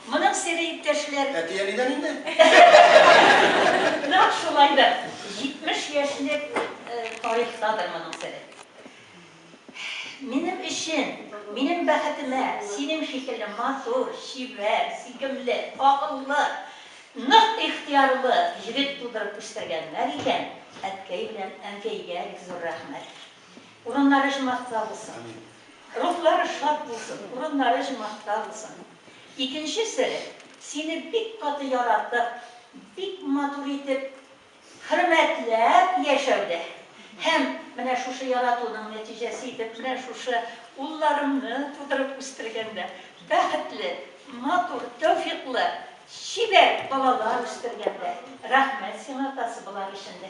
Моның сере, иптәшләр. Әти-әнидән инде. Нәкъ шулайдыр. 70 яшьлек тарихтадыр моның сере. Минем өчен, минем бәхетемә, синең шикелле матур, чибәр, сикемле, акыллы, нык ихтыярлы җегет тудырып үстергәннәр икән, әткәй белән әнкәйгә бик зур рәхмәт. Урыннары җмахта булсын. Рухлары шат булсын, урыннары җмахта булсын. Икенче сере, сине бик каты яратып, бик матур итеп, хөрмәтләп яшәүдә һәм менә шушы яратуның нәтиҗәсе итеп, менә шушы улларыңны тудырып үстергәндә, бәхетле, матур, тәүфиклы, чибәр балалар үстергәндә. Рәхмәт сиңа, атасы, болар өчен дә.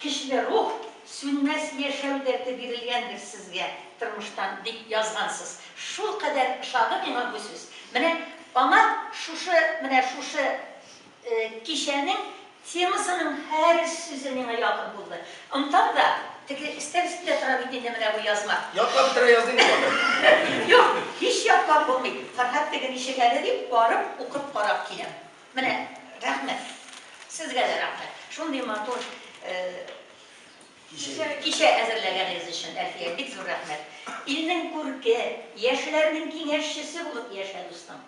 Көчле рух, сүнмәс яшәү дәрте бирелгәндер сезгә тормыштан, дип язгансыз. Шулкадәр ошады миңа бу сүз. Менә аңа шушы, менә шушы кичәнең темасының һәр сүзе миңа якын булды. Онытам да, теге өстәл өстендә тора бит инде менә бу язма. Яклап бетерә языйм мин аны. Юк, һич яклап булмый. Фәрһад теге ничек әле дип барып укып карап киләм. Менә, рәхмәт. Сезгә дә рәхмәт. Шундый матур кичә әзерләгәнегез өчен, Әлфия, бик зур рәхмәт. Илнең күрке, яшьләрнең киңәшчесе булып яшә, дустым.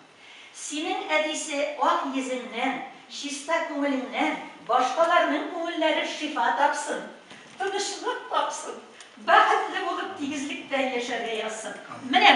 Синең әтисе ак йөзеңнән, чиста күңелеңнән башкаларның күңелләре шифа тапсын, тынычлык тапсын, бәхетле булып тигезлектә яшәргә язсын. Менә!